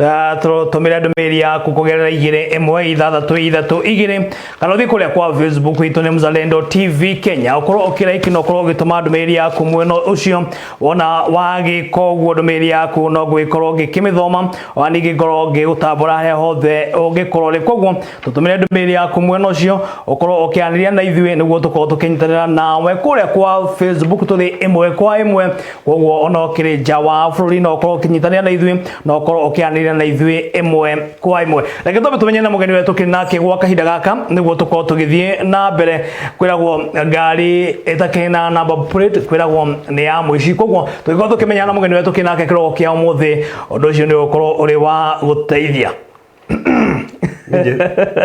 Ah, tũtũmĩre ndũmĩrĩri yaku kũgerera igĩrĩ ĩmwe ithathatũ ithatũ igĩrĩ kana ũthiĩ kũrĩa kwa facebook itũ nĩ mzalendo tv kenya ũkorwo ũkĩraiki na ũkorwo ũgĩtũma ndũmĩrĩri yaku mwena ũcio wona wagĩka ũguo ndũmĩrĩri yaku no ngũgĩkorwo ngĩkĩmĩthoma ona ningĩ ngorwo ngĩgũtambũra harĩa hothe ũngĩkorwo rĩ koguo tũtũmĩre ndũmĩrĩri yaku mwena ũcio ũkorwo ũkĩanĩria na ithuĩ nĩguo tũkorwo tũkĩnyitanĩra nawe kũrĩa kwa facebook tũrĩ ĩmwe kwa ĩmwe koguo ona ũkĩrĩ nja wa bũrũri no ũkorwo ũkĩnyitanĩra na ithuĩ no ũkorwo ũkĩanĩrĩra na ithuĩ ĩmwe kwa ĩmwe reke twambe tũmenye na mũgeni wetũ kĩ nake gwa kahinda gaka nĩguo tũkorwo tũgĩthiĩ na mbere kwĩragwo ngari ĩtakĩrĩ na namba plate kwĩragwo nĩ ya mũici koguo tũgĩkorwo tũkĩmenya na mũgeni wetũ kĩ nake kĩroko kĩa ũmũthĩ ũndũ ũcio nĩ ũgũkorwo ũrĩ wa gũteithia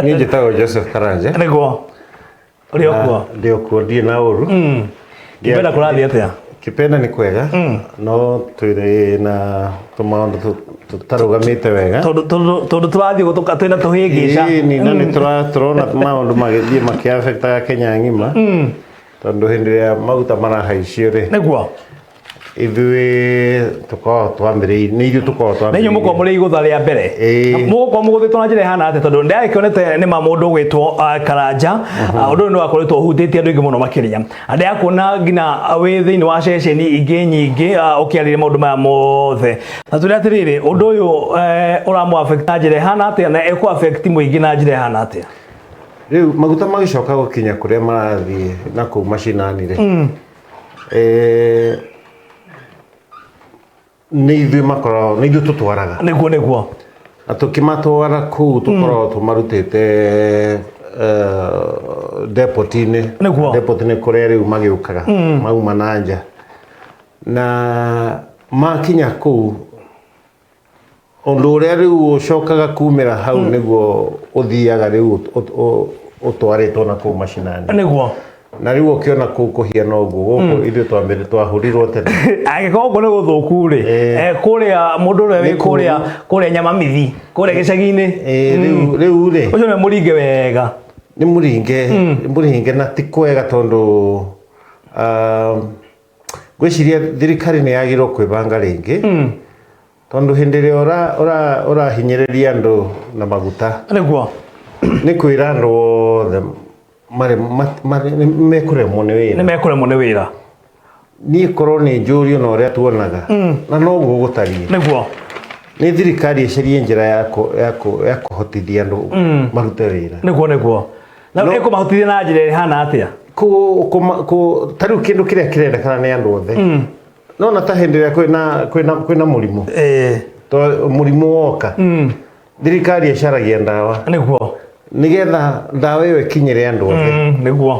niä njä tagwo joseph karanja nĩguo Ũrĩ o kuo? Na ndĩ o kuo ndirĩ na ũru Mm. Kĩpenda kũrathiĩ atĩa? kĩpenda nĩ kwega no twĩrĩ na tũmaũndũ tũ- tũtarũgamĩte wega Tondũ- tondũ tondũ tũrathiĩ gũtũka twĩna tũhĩngĩca Ĩĩ, nĩ- na nĩ tũra- tũrona maũndũ magĩthiĩ makĩabektaga kenya ng'ima tondũ hĩndĩ ĩrĩa maguta marahaicio rĩ nĩguo ithuĩ tũkoragwo twambĩrĩirie nĩ ithuĩ tũkoragwo na inyuĩ mũkorwo mũrĩ igũtha rĩa mbere Ĩĩ. mũgũkorwo mũgũthĩtwo na njĩra ĩhana atĩ tondũ ndĩrakĩonete nĩ ma mũndũ ũgwĩtwo ah, karanja Ah, ũndũ ũyũ nĩ wakoretwo ũhutĩtie andũ aingĩ mũno makĩria andũ ya kuona nginya ah, wĩ thĩinĩ wa ceceni ingĩ nyingĩ ah, ũkĩarĩria maũndũ maya mothe na tũrĩ atĩrĩrĩ ũndũ ũyũ eh, ũramũ affect na njĩra ĩhana atĩa na ĩkũ affect mũingĩ na njĩra ĩhana atĩa rĩu maguta magĩcoka gũkinya kũrĩa marathiĩ na kũu macinani rĩ Eh, nĩ ithuĩ makoragwo nĩ ithuĩ tũtwaraga nĩguo nĩguo na tũkĩmatwara kũu tũkoragwo tũmarutĩte depotinĩ Nĩguo. depotinĩ kũrĩa rĩu magĩũkaga mauma na nja na makinya kũu Ũndũ ũrĩa rĩu ũcokaga kumĩra hau hmm. nĩguo ũthiaga rĩu ũtwarĩtwo na kũu mashinani. Nĩguo na riu ukiona ku kuhiana uguo guku hmm. ithu twambire twahurirwo tene agikorwo uguo ni guthuku ri kuria mundu ri wi kuria kuria nyama mithi kuria gicagi-ini riu riu ri ucio ni muringe wega ni muringe hmm. muringe na ti kwega tondu um, ngwĩciria thirikari nĩ yagĩrĩirwo kwĩbanga rĩngĩ tondũ hĩndĩ ĩrĩa ũra- ũra- ũrahinyĩrĩria andũ na maguta nĩguo nĩ kwĩra andũ othe marĩ- ma- marĩ- nĩ mekũremwo nĩ nĩ wĩra mekũremwo nĩ wĩra niĩ korwo nĩ njũrio na ũrĩa tuonaga na noguo gũtariĩ nĩguo nĩ thirikari ĩcarie njĩra ya kũ- ya kũ- ya kũhotithia andũ marute wĩra nĩguo nĩguo na No- ĩkũmahotithia na njĩra ĩhana atĩa Kũ- kũma- kũ- ta rĩu kĩndũ kĩrĩa kĩrendekana nĩ andũ othe nona ta hĩndĩ ĩrĩa kwĩna- kwĩna- kwĩna mũrimũ Eh, to mũrimũ woka mm, thirikari ĩcaragia ndawa nĩguo nĩgetha ndawa ĩyo ĩkinyĩre andũ othe Mm, nĩguo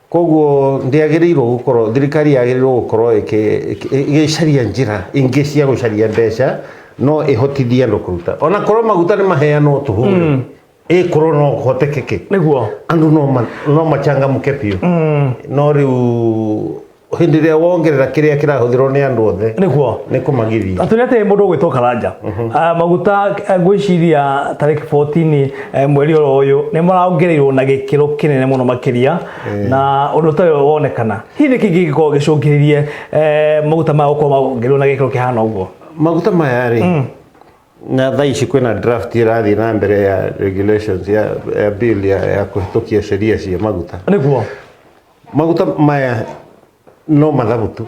Koguo ndĩagĩrĩirwo gũkorwo thirikari yagĩrĩirwo gũkorwo ĩkĩ- ĩkĩ- ĩgĩcaria njĩra ingĩ cia gũcaria mbeca no ĩhotithie andũ kũruta ona korwo maguta nĩ maheanwo tũhũre ĩkorwo no kũhotekeke nĩguo andũ no ma- no machangamke biũ no rĩu hĩndĩ ĩrĩa wongerera kĩrĩa kĩrahũthĩrwo nĩ andũ othe nĩguo nĩ kũmagithia atå nä atä må ndå gwä two karanja maguta ngwä ciria tarä 14 Eh, mweri oro uyu ni marongereirwo na gikiro kinene muno makiria eh. na undu ta uyu wonekana hihi ni kingi gikorwo gicungiririe eh, maguta maya gukorwo marongereirwo na gikiro kihana uguo maguta maya ri mm. na thaa ici kwina draft irathi na mbere ya regulations ya, ya bill ya, ya kuhitukia sheria cia maguta niguo maguta maya no mathabu tu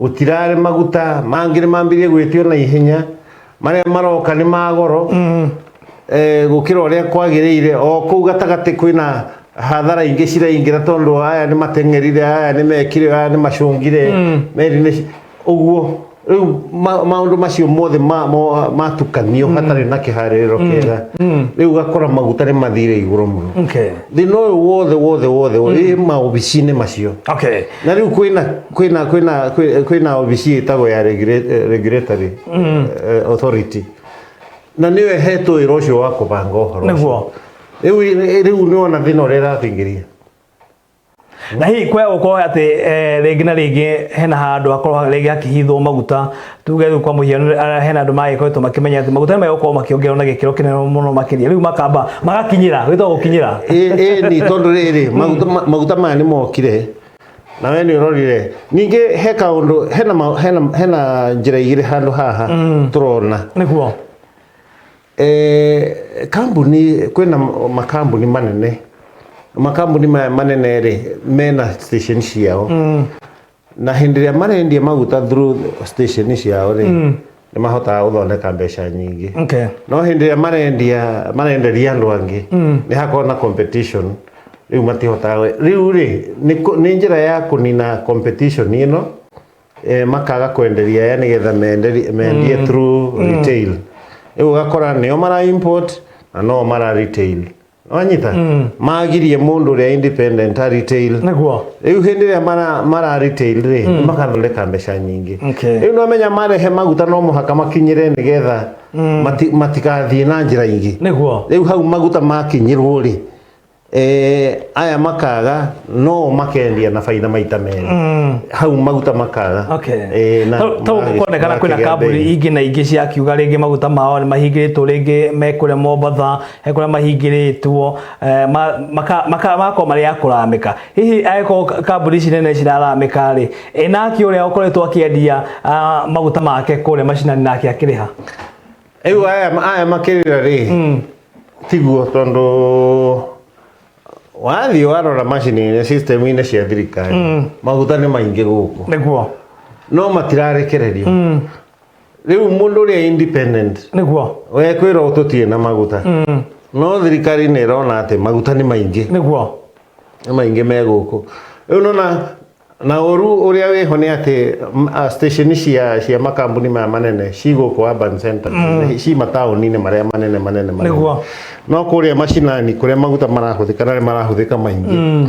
Gũtiraarĩ maguta mangĩ nĩ mambĩrĩrie gwĩtio na ihenya marĩa maroka nĩ ma goro eh, gũkĩra ũrĩa kwagĩrĩire o kũu gatagatĩ kwĩna hathara ingĩ ciraingĩra tondũ aya nĩ mateng'erire aya nĩ mekire aya nĩ macũngire meri nĩ ci- ũguo rĩu ma- maũndũ macio mothe ma- mo- matukanio hatarĩ na kĩharĩrĩro kĩega rĩu ũgakora maguta nĩ mathire igũrũ mũno Okay. thĩna ũyũ wothe wothe wothe wĩ maobici-inĩ macio Okay. na rĩu kwĩna kwĩna kwĩna kwĩ- kwĩna obici ĩtagwo ya regula- regulatory eh, authority na nĩyo ĩhetwo wĩra ũcio wa kũbanga ũhoro Nĩguo. ũcio. rĩu ĩ- rĩu nĩwona thĩna ũrĩa ĩrathingĩria na hihi kwaya gũkorwo atĩ eh, rĩngĩ na rĩngĩ hena handũ hakorwo rĩngĩ hakĩhithwo maguta tuge rĩu kwa mũhiano ara- hena andũ magĩkoretwo makĩmenya atĩ maguta nĩ magũkorwo makĩongererwo na gĩkĩro kĩnene mũno makĩria rĩu makamba magakinyĩra gwĩtagwo gũkinyĩra ni tondå rä rä maguta maya nä mokire na we nä å rorire ningä he kaå hena, ma- hena, hena njä ra igä rä handå haha tå rona nĩguo Eh, kambuni kwina makambuni manene makambuni maya manene rĩ mena station ciao na hĩndĩ ĩrĩa marendia maguta through station ciao rĩ mm. nĩ mahotaga gũthondeka mbeca nyingĩ okay. no hĩndĩ ĩrĩa marendia marenderia andũ angĩ mm. nĩ hakorwo na competition rĩu matihotaga rĩu rĩ nĩ njĩra ya kũnina competition ĩno e, makaga kwenderia ya nĩgetha mendie mm. through mm. retail rĩu ũgakora nĩo mara import na no mara retail wanyita magirie mundu uria independent a retail niguo riu hindi iria mara mara retail ri makathondeka mbeca nyingi Okay. riu no menya marehe maguta no muhaka makinyire nigetha mati- matikathie na njira ingi niguo riu hau maguta makinyirwo ri eh, aya makaga no makendia na baida maita meri hau maguta makaga okay Eh, na- Tau- tau magi- kuonekana kwina makigĩa kambuni mbei. ingĩ na ingĩ ciakiuga rĩngĩ maguta mao nĩ mahingĩrĩtwo rĩngĩ mekũrĩa mombatha he kå rä a mahingä rä two makamakoo marä a kå ramä ka hihi angäkorwo kambuni ici nene ciraramä ka rä enake å rä a å koretwo akä endia maguta make kå rä a macinani nake akä rä ha rĩu aya aya makĩrĩra rĩ tiguo tondũ wathiĩ warora macini-inĩ system-inĩ cia thirikari maguta nĩ maingĩ gũkũ nä guo no matirarekererio rĩu mũndũ ũrĩa independent nĩguo we kwĩrwo tũtirĩ na maguta no thirikari nĩ ĩrona atĩ maguta nĩ maingĩ nĩguo nĩ maingĩ me gũkũ rĩu nona na ũru ũrĩa wĩho nĩ atĩ m- a, station cia cia makambuni maya manene ci gũkũ urban center ci mataũni-inĩ marĩa manene manene manene. Nĩguo. no kũrĩa macinani kũrĩa maguta marahũthĩka na nĩ marahũthĩka maingĩ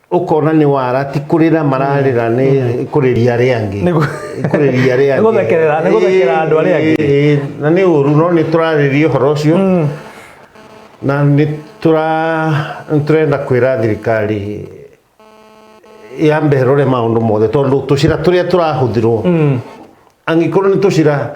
ukona ni wara ti kurira mararira ni mm. kuriria ri angi kuriria ri angi guthekerera ni guthekera andu ari angi na ni uru no ni turariria horo cio mm. na ni tura turenda kwira thirikari ya mberore maundu mothe tondu tucira turia turahuthirwo mm. angikorwo ni tucira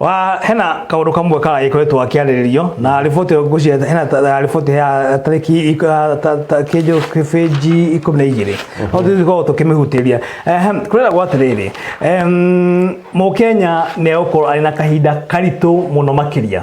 wa hena kaundu kamwe ka ikoretwo akiariririo na riboti yo nguci hena ta- ta- riboti ya tariki ik- ah, ta- ta- kinjo kibeji ikumi na igiri no tukorwo tukimihutiria Ehem, kurera gwa atiriri mukenya ni ukorwo ari na kahinda karitu muno makiria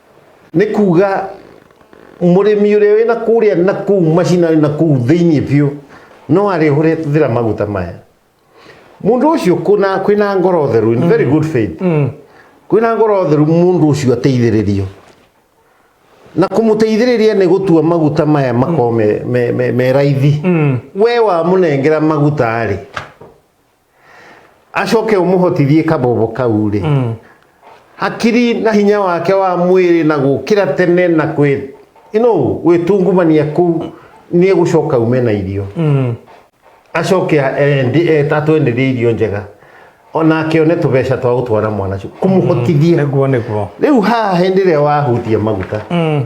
nĩ kuga mũrĩmi ũrĩa wĩna kũrĩa na kũu macinani na kũu thĩinĩ biũ no arĩhũre thĩra maguta maya mũndũ ũcio kuna kwĩna ngoro theru in very good faith kwĩna ngoro theru mũndũ ũcio ateithĩrĩrio na kũmũteithĩrĩria nĩ gũtua maguta maya makorwo me, me, me, me raithi we wamũnengera maguta rĩ acoke umuhotithie kabobo kau ri mm. hakiri na hinya wake wa mwiri na gukira tene na kwi ino gwitungumania ku ni egucoka ume na irio mm. acoke tatwenderie irio njega ona akione tubeca twa gutwara mwana kumuhotithia mm. riu haha hindi ria wahutia maguta mm.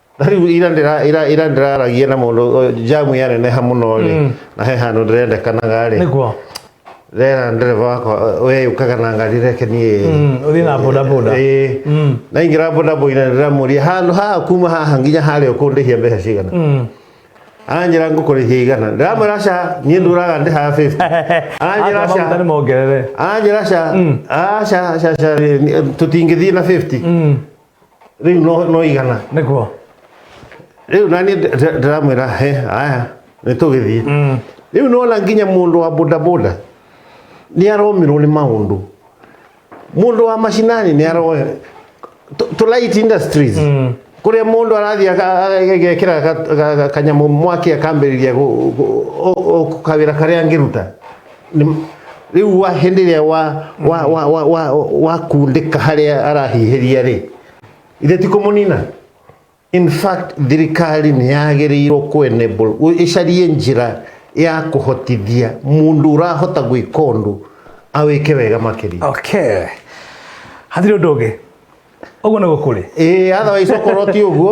Na rĩu ira ndĩra- ira- ira ndĩraragia na mũndũ ũyũ, jamu yaneneha mũno rĩ na he handũ ndĩrendekanaga rĩ nĩguo rera ndereba wakwa we ũkaga na ngari reke niĩ Mm, ũthiĩ na bodaboda Ĩĩ. Mm. naingĩra bodaboda ndĩramũria handũ haha kuma haha nginya harĩa ũkũndĩhia mbeca cigana Mm. aranjĩra ngũkũrĩhia igana ndĩramwĩra ca niĩ ndũraga ndĩhaga 50 aranjĩra Ata maguta ca nĩ mongerere aranjĩra ca aca ca ca tũtingĩthiĩ na 50 Mm. rĩu no no igana nĩguo rĩu nani ndĩramwĩra he aya nĩ tũgĩthiĩ rĩu nona nginya mũndũ wa bodaboda nĩ aromirwo nĩ maũndũ mũndũ wa macinani nĩ aroya tũ- tũ light industries kũrĩa mũndũ arathiĩ aka- agekĩra ga- ga- ga- kanyamũ mwaki akambĩrĩria gũ- gũ- o- o kawĩra karĩa angĩruta Nĩ- rĩu wa hĩndĩ ĩrĩa wa wa wa wa wa wakundĩka harĩa arahihĩria rĩ ithe ti kũmũnina in fact thirikari nĩ yagĩrĩirwo kwenable ĩcarie njĩra ya kũhotithia mũndũ ũrahota gwĩka ũndũ awĩke wega makĩria okay hatirĩ ũndũ ũngĩ ũguo nĩ gũkũrĩ ĩĩ otherwise okorwo ti ũguo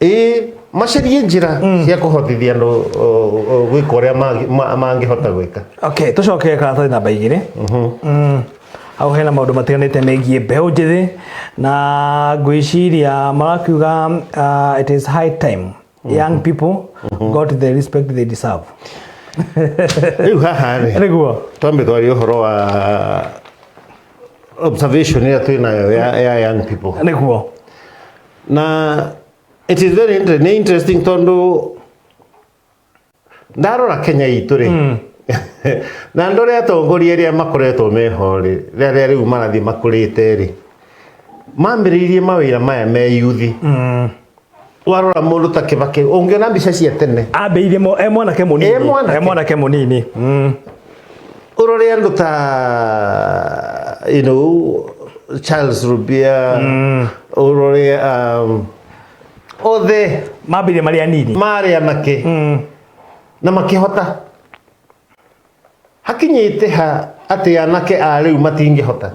ĩĩ macarie njĩra cia kũhotithia andũ o, o, gwĩka ũrĩa mangĩ- ma- mangĩhota gwĩka okay tũcoke karatathi namba igĩrĩ Mm. hau hena maũndũ matiganĩte megiĩ mbeũ njĩthĩ na ngwĩciria marakiuga uh, it is high time young people got the respect they deserve rĩu haha rĩ nĩguo twambe twarie ũhoro wa observation ĩrĩa twĩ nayo ya, ya young people nĩguo na it is very inter nĩ interesting tondũ ndarora kenya itũ rĩ mm. na ndore atongoria arĩa makoretwo meho rĩ rĩrĩa rĩu marathiĩ makũrĩte rĩ mambĩrĩirie mawĩra maya me yuthi mm. warora mũndũ ta kĩbakĩ ũngĩona mbica cia tene ambĩirie e mwanake mũnini e mwanake mũnini mm. Ororiyaan ta you know Charles Rubia mm. Ororia um, othe mambire marĩ anini marĩ anake mm. na makĩhota hakinyĩte ha atĩ anake a rĩu matingĩhota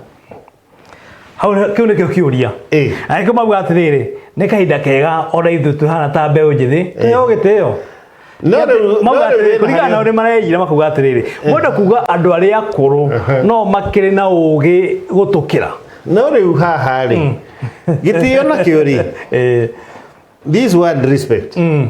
hau nĩ- kĩu nĩkĩo kĩũria Ĩĩ. angĩkorwo mauga atĩrĩrĩ nĩ kahinda kega ona ithuĩ tũhana ta mbeũ njĩthĩ tũheo gĩtĩo No rĩu- Mauga no rĩu atĩrĩrĩ, wĩna kũringana na harĩa- ũrĩa mareyira makuga atĩrĩrĩ mwenda kuga andũ arĩa akũrũ no makĩrĩ na ũũgĩ gũtũkĩra no rĩu haha rĩ gĩtĩo nakĩo rĩ Eh, this word respect mm.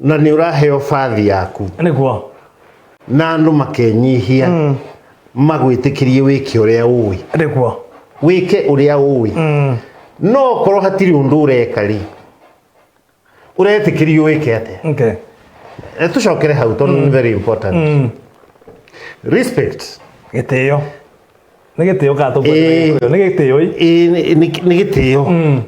na nĩ ũraheo bathi yaku nĩguo na andũ makenyihia mm. magwĩtĩkĩrie wĩke ũrĩa ũĩ nĩguo wĩke ũrĩa ũĩ mm. no okorwo hatirĩ ũndũ ũreka rĩ ũretĩkĩrio wĩke atĩa okay. Eh, tũcokere hau tondũ mm. very important mm. respect gĩtĩo nĩ gĩtĩo gatũ nĩ gĩtĩo nĩ gĩtĩo mm.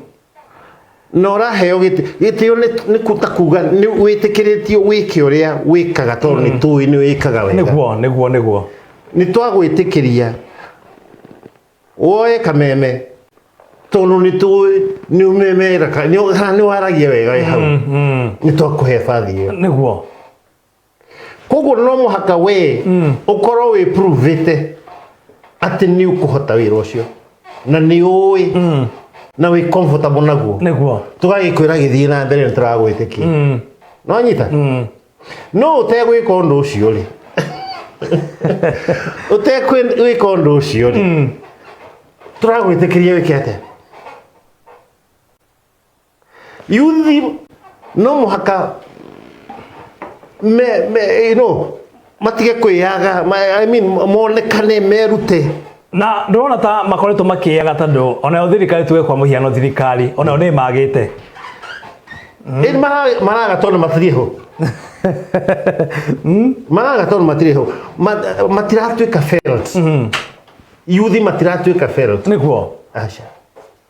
na ũraheo gĩtĩ gĩtĩo nĩ kũta kuga nĩ wĩtĩkĩrĩtio wĩke ũrĩa wĩkaga tondũ nĩ tũĩ nĩ wĩkaga wega nĩguo nĩguo nĩguo nĩ twagwĩtĩkĩria woe kameme tondũ nĩ tũĩ nĩ ũmemeraga nĩ waragia wega wĩ hau nĩ twakũhe bathi ĩyo nĩguo koguo no mũhaka wee ũkorwo wĩ provĩte atĩ nĩ ũkũhota wĩra ũcio na nĩ ũĩ na wĩ comfortable naguo nĩguo tũgagĩkwĩra gĩthiĩ na mbere nĩ tũragwĩtĩkia no nyita no ũtegwĩka ũndũ ũcio rĩ ũtegwĩka ũndũ ũcio rĩ tũragwĩtĩkĩria wĩke atĩa yuthi no mũhaka me, me, you know, matige kwĩyaga ma- I mean, monekane merute na ndona ta makoretwo makĩyaga tondũ onayo thirikari tuge kwa mũhiano thirikari onayo nĩ magĩte Ĩĩ mara- maraga tondũ matirĩ ho maraga tondũ matirĩ ho Ma- matiratuĩka felt yuthi matiratuĩka felt nĩkuo aca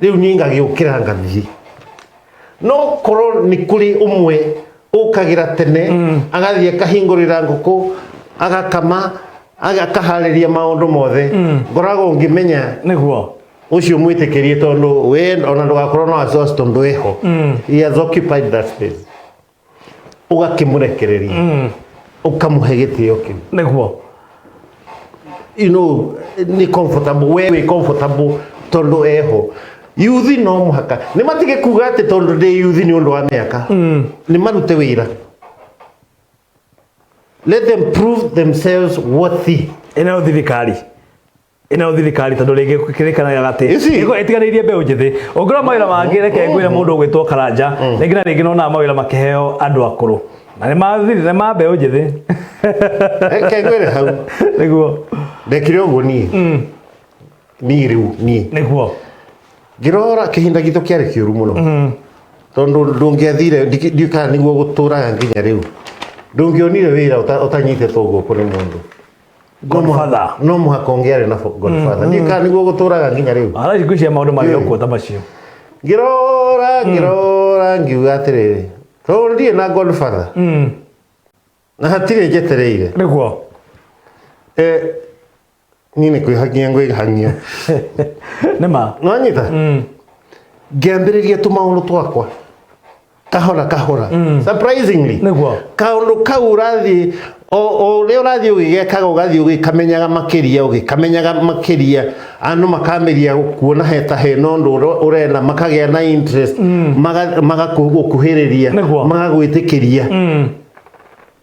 riu nie ngagiukira ngathii no korwo ni kuri umwe ukagira tene agathii akahingurira nguku agakama aga- akahariria maundu mothe ngoragwo ngimenya niguo ucio mwitikirie tondu we ona ndugakorwo no exhaust tondu weho he has occupied that space ũgakĩmũrekereria mm. ũkamũhe gĩtĩo kĩu nĩguo you know, nĩ comfortable we wĩ comfortable tondũ eho yuthi no mũhaka nĩ matige kuga atĩ tondũ ndĩ yuthi nĩ ũndũ wa mĩaka mm. nĩ marute wĩra let them prove themselves worthy ĩno thirikari ino thirikari tondu ringi kirikanaga ati Ici. niko itiganirie mbeu njithi ungirwo mawira mangi reke ngwire mundu ugwitwo karanja ringi na ringi nona mawira makiheo andu akuru na ni ma thiri- ni ma mbeu njithi reke ngwire hau niguo ndekire uguo nie nie riu nie niguo ngirora kihinda gitu kiari kiuru muno tondu ndungiathire ndiukaa niguo guturaga nginya riu ndungionire wira uta- utanyitetwo guku ni mundu Godfather. no mũhaka ũngĩarĩ na godfather ndiĩ kana nĩguo gũtũraga nginya rĩu Arathi gwĩciria maũndũ marĩ ũkuo ta macio. ngĩrora ngĩrora ngiuga atĩrĩrĩ tondũ ndirĩ na godfather Mm. na hatirĩ njetereire Nĩguo. Eh, niĩ nĩ kwĩhangia ngwĩhangia Nĩ ma. nĩwanyita Mm. ngĩambĩrĩria tũmaũndũ twakwa kahora kahora mm. surprisingly niguo kaundu kau urathi o ria urathi ugigekaga ugathi ugikamenyaga makiria ugikamenyaga makiria andu makameria kuona he ta he no ndu urena makagea na interest mm. magakuhiriria magagwitikiria mm.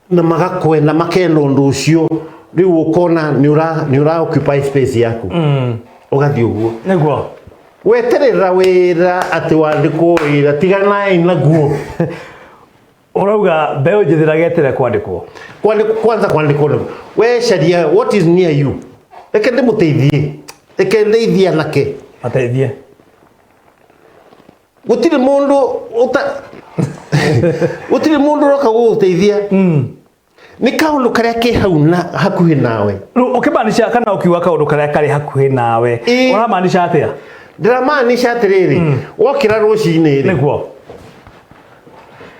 na magakwenda makenda ũndũ ũcio rĩu ũkona nĩ ũra- nĩ ũra occupy space yaku ũgathiĩ ũguo nĩguo weterera wĩra atĩ wandĩkwo wĩra tiganai naguo ũrauga mbeũ njĩthĩ ĩragetere kwandĩkwo Kwandĩkwo- kwanza kwandĩkwo nĩ wecaria what is near you reke ndĩmũteithie reke ndeithie anake mateithie gutiri mundu uta gutiri mundu roka guguteithia ni kaundu karia ke hau na hakuhi nawe Rĩu ũkĩmaanisha kana ũkiuga kaũndũ karĩa karĩ hakuhĩ nawe Ĩ. ũramaanisha atĩa ndiramaanisha atiriri wokira rucini ri nĩguo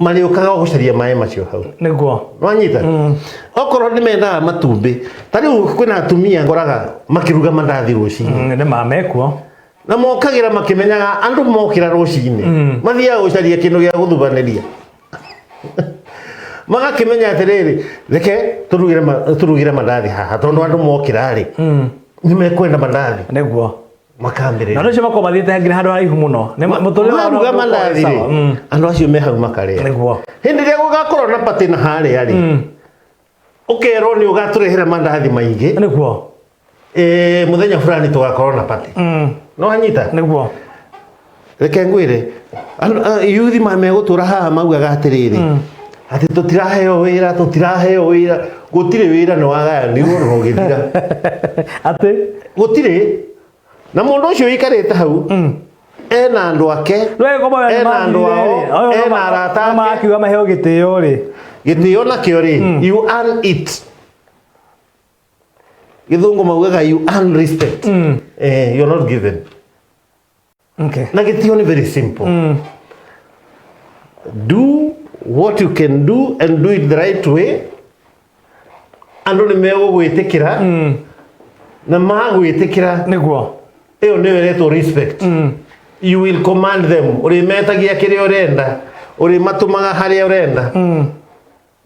marĩũkaga gũcaria maĩ macio hau nĩguo wanyita okorwo nĩ mendaga matumbĩ ta rĩu kwĩna atumia ngoraga makĩruga mandathi rũcinĩ Mm, nĩ mamekuo na mokagĩra makĩmenyaga andũ mokĩra rũcinĩ mathiaga gũcaria kĩndũ gĩa gũthubanĩria magakĩmenya atĩrĩrĩ reke tũrugĩre ma- tũrugĩre mandathi haha tondũ andũ mokĩra rĩ nĩ mekwenda mandathi nĩguo na makambĩrĩria nä cio makorwo mathiä te nginya handå haraihu må no Nĩ ma- mũtũrĩre wao maruga ndũkoragwo wĩ mandathi sawa. Mm. rĩ andå acio me hau makarĩa Nĩguo. hĩndĩ ĩrĩa gũgakorwo na patĩ na harĩa rĩ ũkerwo nĩ ũgatũrehera mandathi maingĩ nä guo Eh, mũthenya fulani tũgakorwo na patĩ no hanyita nä guo reke ngwĩre andũ- a- yuthi ma megũtũra haha maugaga atĩrĩrĩ atĩ tũtiraheo wĩra tũtiraheo wĩra gũtirĩ wĩra nĩ wagayanirwo na ũgĩthira atĩ gũtirĩ na mũndũ ũcio ũikarĩte hau ena andũ ake Ena andũ ao, ena arata ake. makiuga maheo gĩtĩo rĩ gĩtĩo nakĩo rĩ you earn it gĩthũngũ maugaga you earn respect eh, you're not given Okay. Na gĩtio nĩ very simple. Mm. Do what you can do and do it the right way. Andũ nĩ megũgwĩtĩkĩra mm. na magwĩtĩkĩra nĩguo ĩyo nĩyo ĩretwo respect mm. you will command them ũrĩmetagia kĩrĩa ũrenda ũrĩmatũmaga harĩa ũrenda mm.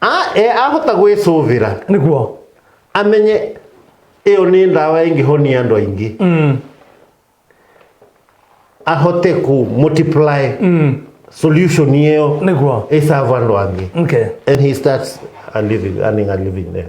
A- e- ahota gwĩcũvĩra nĩguo amenye ĩyo nĩ ndawa ĩngĩhonia andũ aingĩ Mm, ahote ku multiply mm, solution ĩyo nĩguo ĩsava andũ angĩ okay and he starts a living, earning a living there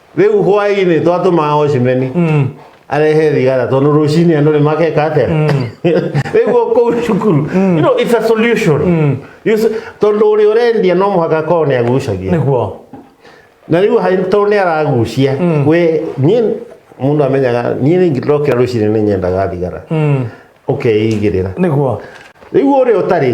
rĩu hwaĩ-inĩ twatũmaga ocimeni Mm. arehe thigara tondũ rũcinĩ andũ nĩ makeka atĩa rĩu kũu cukuru you know, it's a solution You see, tondũ ũrĩa ũrendia no mũhaka akorwo nĩ agucagia nĩguo na rĩu ha- tondũ nĩ aragucia we niĩ mũndũ amenyaga niĩ rĩngĩ ndokĩra rũcinĩ nĩ nyendaga thigara Mm. ũkeigĩrĩra nĩguo rĩu ũrĩa ũtarĩ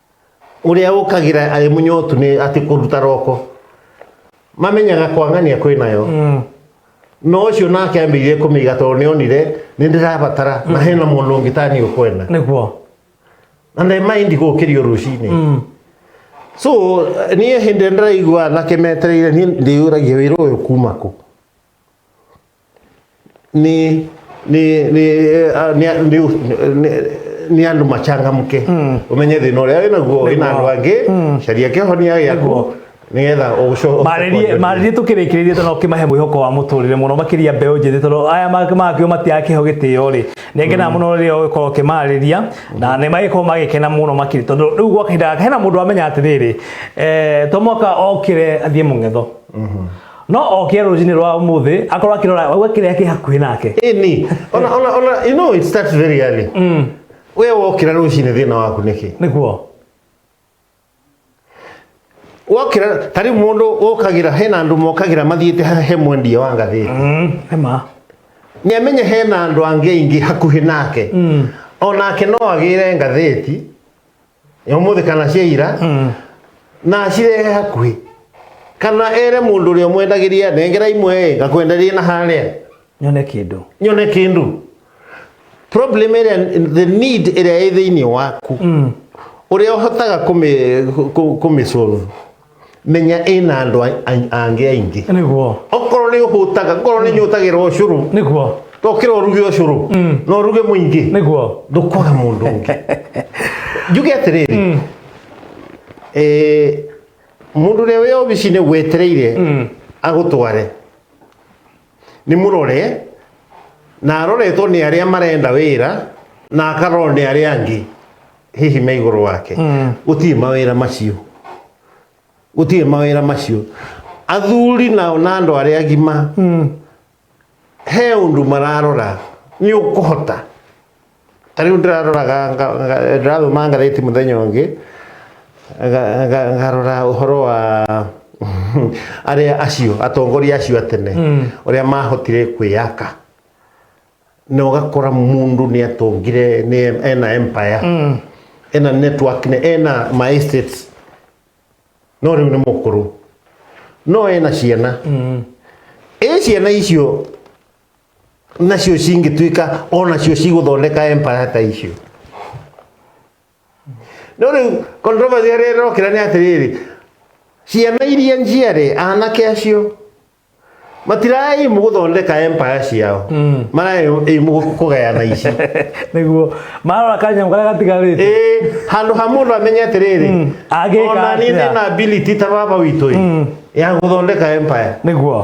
Ũrĩa ũkagĩra arĩ mũnyotu nĩ atĩ kũruta roko. Mamenyaga kwang'ania kwĩ nayo. No ũcio nake ambĩire kũmĩiga tondũ nĩonire nĩ ndĩrabatara na hena mũndũ ũngĩ ta niĩ ũkwenda. nĩguo Na nĩ mind gũkĩrio rũcinĩ. So niĩ hĩndĩ ĩrĩa ndĩraigua anake metereire niĩ ndĩyũragia wĩra ũyũ kuma kũ? ni ni ni eh, ni ni- ni- ni andå machangamke umenye thä na å rä a wä naguo wä na andå angä caria kä honia gä aku nä getha å marĩrie tũkĩrĩkĩrĩrie tondũ ũkĩmahe mwĩhoko wa mũtũrĩre mũno makĩria mbeũ njĩthĩ tondũ aya makĩo matiaga kĩho gĩtĩo rĩ nĩ ngenaga mũno rĩrĩa ũgĩkorwo ũkĩmarĩria na nĩ magĩkorwo magĩkena mũno makĩria tondũ rĩu gwa kahinda gaka hena mũndũ amenya atĩrĩrĩ eh, to mwaka okĩre athiĩ mũng'etho no oke rũcinĩ rwa ũmũthĩ akorwo akĩrora we kĩrĩa kĩ hakuhĩ nake ini ona ona ona you know it starts very early mm. we wokira rucini thina waku niki nĩkuo wokira tari mundu wokagira hena andu mokagira mathiite ha- he mwendia wa ngathĩti mm. ema nä amenye hena andå angä aingä hakuhä nake onake no agä re ngathäti umuthi kana cia ira na acirehe hakuhĩ kana ere mũndũ ũrĩa mwendagĩria nengera imwe ngakwenderia na harĩa nyone kĩndũ nyone kĩndũ problem ĩrĩa the need ĩrĩa ĩ thĩinĩ waku ũrĩa ũhotaga kũmĩ- kũ- kũmĩ solve menya ĩna andũ a- a- angĩ aingĩ niguo okorwo nĩ ũhũtaga okorwo nĩ nyũtagĩra ũcũrũ niguo tokĩra ũruge ũcũrũ na ũruge mũingĩ niguo ndũkwaga mũndũ ũngĩ njuge atĩrĩrĩ eh, mũndũ ũrĩa wĩ obici-inĩ gwetereire agũtware nĩ mũrore na aroretwo nĩ arĩa marenda wĩra na akarorwo nĩ arĩa angĩ hihi me igũrũ wake gũtirĩ mawĩra macio gũtirĩ mawĩra macio athuri nao na andũ arĩa agima he ũndũ mararora nĩ ũkũhota ta riu ndiraroraga nga- nga- ndirathoma ngatheti muthenya ungi nga- nga- ngarora uhoro wa aria acio atongoria acio atene uria mahotire kwiyaka na ugakora mundu ni atongire ni ena empire ena network ni ena ma estates no riu ni mukuru no ena ciana ä ciana icio nacio cingĩtuĩka o nacio cigũthondeka empire ta icio no rĩu controversy ĩrĩa ĩrokĩra nĩ atĩrĩrĩ ciana iria njiarĩ anake acio matiraĩ mũgũthondeka empire ciao maraĩ mũgũkũgayana ici nĩguo marora kanyamũ karĩa gatigarĩte Ĩĩ, handũ ha mũndũ amenye atĩrĩrĩ Mm, agĩka ona niĩ atĩa? ndĩna ability ta baba witũ ĩ, ya gũthondeka empire nĩguo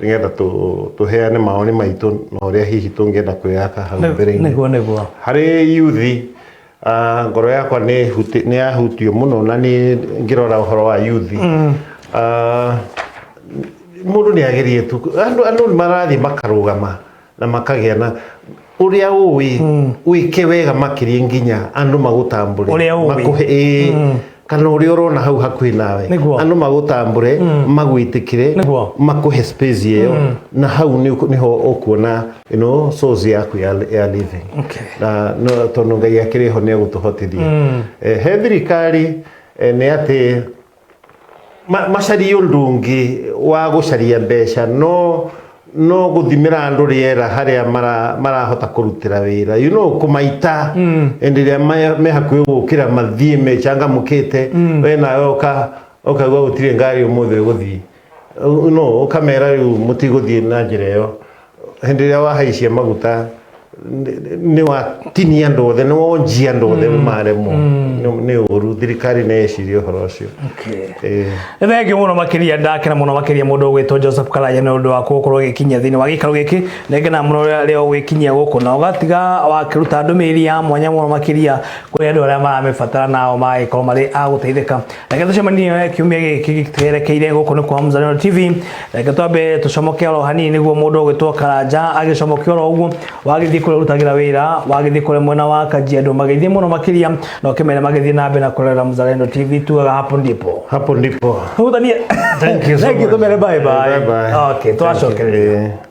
nĩgetha tũ- tũheane maoni maitũ na ũrĩa hihi tũngĩenda kwĩyaka hau mbere-inĩ nĩguo nĩguo harĩ yuthi ah, ngoro yakwa nĩ huti- nĩ yahutio mũno na nĩ ngĩrora ũhoro wa yuthi Ah, mũndũ nĩ agerie tu andũ andũ nĩ marathiĩ makarũgama na makagĩa na ũrĩa ũĩ wĩke wega makĩria nginya andũ magũtambũre Ũrĩa ũĩ. makũhe ĩĩ kana ũrĩa ũrona hau hakuhĩ nawe Nĩguo. andũ magũtambũre magwĩtĩkĩre Nĩguo. makũhe space ĩyo na hau nĩ ũku- nĩho ũkuona you know, source yaku ya, ya living Okay. na no, tondũ ngai akĩrĩ ho nĩ egũtũhotithia Eh, he thirikari eh, nĩ atĩ ma- macarie ũndũ ũngĩ wa gũcaria mbeca no no gũthimĩra andũ rĩera harĩa mara- marahota kũrutĩra wĩra you know, kũmaita hĩndĩ ĩrĩa me- me hakuhĩ gũkĩra mathiĩ mechangamũkĩte we nawe ũka- ũkaigua gũtirĩ ngari ũmũthĩ ũgũthiĩ no ũkamera rĩu mũtigũthiĩ na njĩra ĩyo hĩndĩ ĩrĩa wahaicia maguta nĩ- nĩ watinia andũ othe nĩ wonjia andũ othe maremwo Nĩ- nĩ ũru thirikari nĩ ĩciria ũhoro ũcio Eh, nĩ thengiũ mũno makĩria ndakena mũno makĩria mũndũ ũgwĩtwo joseph karanja nĩ ũndũ wa gũkorwo ũgĩkinyia thĩinĩ wa gĩikaro gĩkĩ nengena mũno rĩrĩa rĩrĩa ũgwĩkinyia gũkũ na ũgatiga wakĩruta ndũmĩrĩri ya mwanya mũno makĩria kũrĩ andũ arĩa maramĩbatara nao magagĩkorwo marĩ a gũteithĩka reke tũcemanie we kiumia gĩkĩ twerekeire gũkũ nĩ kwa Mzalendo TV reke twambe tũcomoke oro hanini nĩguo mũndũ ũgĩtwo Karanja agĩcomoke oro ũguo wagĩthiĩ kũrĩa ũrutagĩra wĩra wagĩthiĩ kũrĩa mwena wa Kajiado magĩthiĩ mũno makĩria na ũkĩmenya magĩthiĩ na mbere na kũrorera Mzalendo TV tugaga hapo ndipo Hapo ndipo. hutanie Thank you so Thank you, much. tũmere bye bye Bye bye. okay Thank you. twacokereria Eh.